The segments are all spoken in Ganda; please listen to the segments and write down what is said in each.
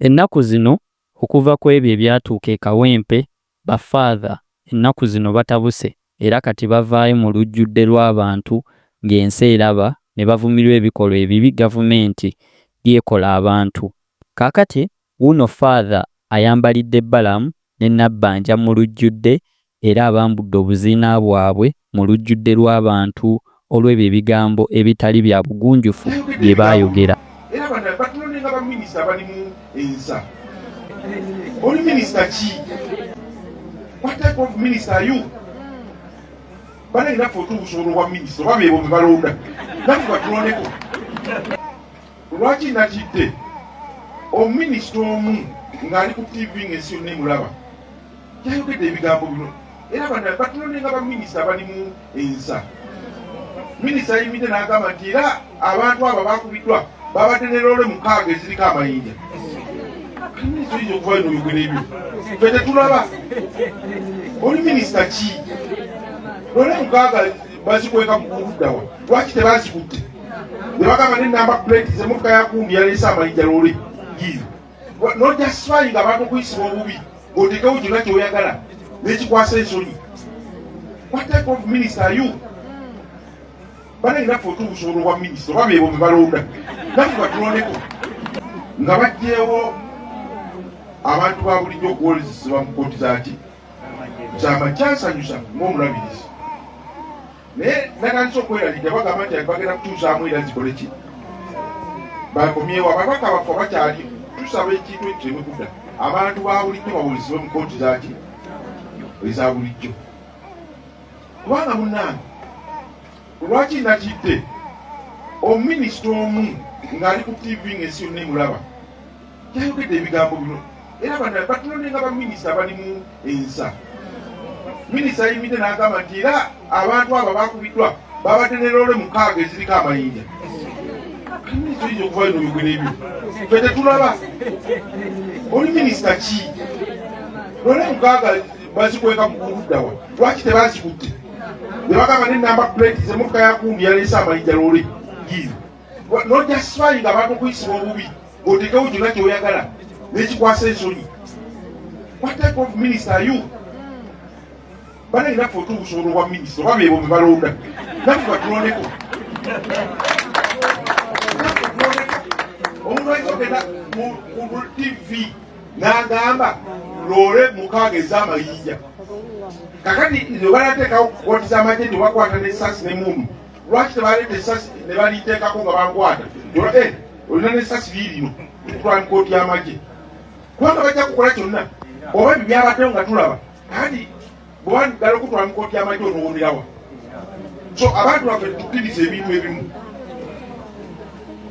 Ennaku zino okuva kwebyo ebyatuuka e Kawempe ba Father ennaku zino batabuse era kati bavaayo mu lujjudde lw'abantu ng'ensi eraba ne bavumirwa ebikolwa ebibi gavumenti byekola abantu. Kaakati wuuno Father ayambalidde Balaam ne Nabbanja mu lujjudde era abambudde obuziina bwabwe mu lujjudde lw'abantu olw'ebyo ebigambo ebitali bya bugunjufu bye baayogera. era abalala batulonde nga ba minister abalimu ensa oli minister ki what type of minister are you banange naffe otubusobola obwa minister oba bebo bebalonda naffe batulondeko lwaki natidde omuminisita omu ng'ali ku tv ng'ensi yonna emulaba yayogedde ebigambo bino era bana batunone nga baminisita balimu ensa minisita ayimidde n'agamba nti era abantu abo bakubiddwa babadde ne loole mukaaga eziriko amayinja minisita oyinza okuvayo noyogera ebyo fe tetulaba oli minisita ki loole mukaaga bazikweka mukuddawa lwaki tebazikutte ne bagamba nenamba plate zemotoka yakundi yaleese amayinja loole yiyo nojasifaayi nga abantu okuyisibwa obubi ng'otekewo kyonna kyoyagala nekikwasa ensonyi what type of minister are you banange naffe otubusobola obwa minisita oba bebo bebalonda naffe batulondeko nga bajjeewo abantu ba bulijjo okuwolezesebwa mu kooti zaki kyama kyansanyusa ngaomulabirizi naye natandise okweraliikira bagamba nti bagenda kutuusaamu era zikole ki bakomyewo ababaka bafa bakyali tusaba ekintu ekyo emikuda abantu babulijjo bawulizibwe mu kooti zaki eza bulijjo kubanga munange lwaki natidde omuminisita omu ng'ali ku tv ng'ensi yonna emulaba tayogedde ebigambo bino era bana batunonde nga baminisita balimu ensa minisita ayimidde n'agamba nti era abantu abo bakubiddwa babadde ne loole mukaaga eziriko amayinja minisita oyinza okuva bino bigwera ebyo fe tetulaba oli minisita ki loole mukaaga bazikweka mukuddawa lwaki tebazikutte nebagamba nenamba plate zemukka yakundi yaleese amayinja loole giizi nojasifaayi nga abantu okuyisibwa obubi otekewo kyona kyoyagala nekikwasa ensonyi what type of minister are you banayina fe otubusobola obwa minisita oba bebo bebalonda nafe batulondeko omuntu ayinza ogenda ku tv nagamba loole mukaaga ezamayinja kakati nebalateekawo kukotisa amagye nebakwata nesasi nemundu lwaki tebaleeta esasi ne baliteekako nga bankwata olina eh, nesasi liirino kutwala mu kooti y'amagye kubanga bajja kukola kyonna oba ebyo byabaddewo nga tulaba kandi bwebandugala okutwala mu kooti y'amagye onowoomerawa so abantu baffe tukkiriza ebintu ebimu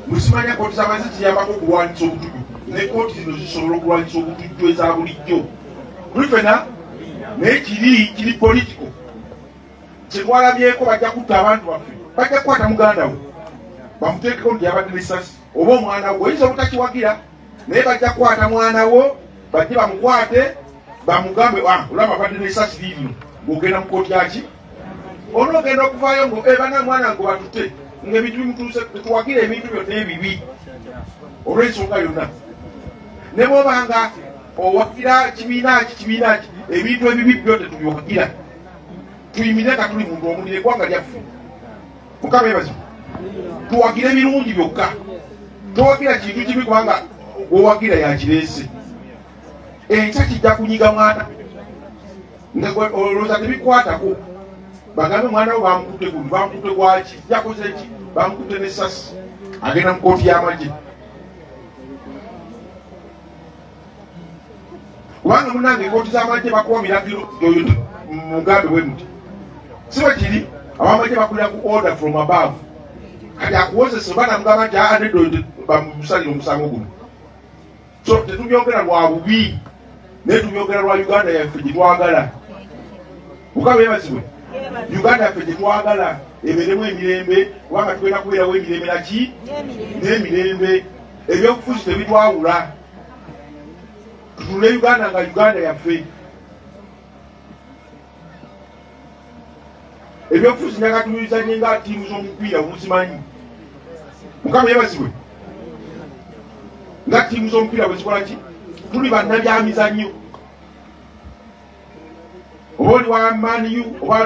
musimanya kooti z'amagye ziyambako okulwanyisa obutujju ne kooti zino zisobola okulwanyisa obutujju eza bulijjo kulifena naye kiri kiri politiko kyetwalabyeko bajja kutta abantu baffe bajja kukwata muganda we bamuteekeko nti yabadde nesasi oba omwana wo oyinza obutakiwagira naye bajja kukwata mwana wo bajje bamukwate bamugambe ah, olaba abadde nesasi liibino ng'ogenda mu kooti yaki onoogenda okuvaayo ngo eh, bana mwana ngo batute ngaebintu bimutuuse tetuwagira ebintu byonna ebibi olw'ensonga yonna ne bwobanga owagira kibiina ki kibiina ki ebintu ebibi byo tetubiwagira tuyimire nga tuli muntu omu neggwanga lyaffe mukama ebazi tuwagira ebirungi byokka towagira kintu kibi kubanga owagira yakireese enkya kijja kunyiga mwana olowooza tebikwatako bagambe mwana wo bamukutte gundi bamukutte gwaki jakoze ki bamukutte nesasi agenda mu kooti y'amagye kubanga munange kooti z'amagye bakuwa biragiro oyo mugambe bwe muti si bwe kiri abamagye bakulira ku order from above kati akuwozesa oba namugamba nti aa nedda oyo bamusalire omusango guno so tetubyogera lwa bubi naye tubyogera lwa uganda yaffe gye twagala mukama yebazibwe uganda yaffe gye twagala ebeeremu emirembe kubanga tugenda kubeerawo emirembe naki n'emirembe ebyobufuzi tebitwawula tutunule uganda nga uganda yaffe ebyobufuzi nakatulizanye nga tiimu z'omupiira muzimanyi mukama yebazibwe nga tiimu z'omupiira bwezikola ki tuli bannabyamizannyo oba oli wa maniyu oba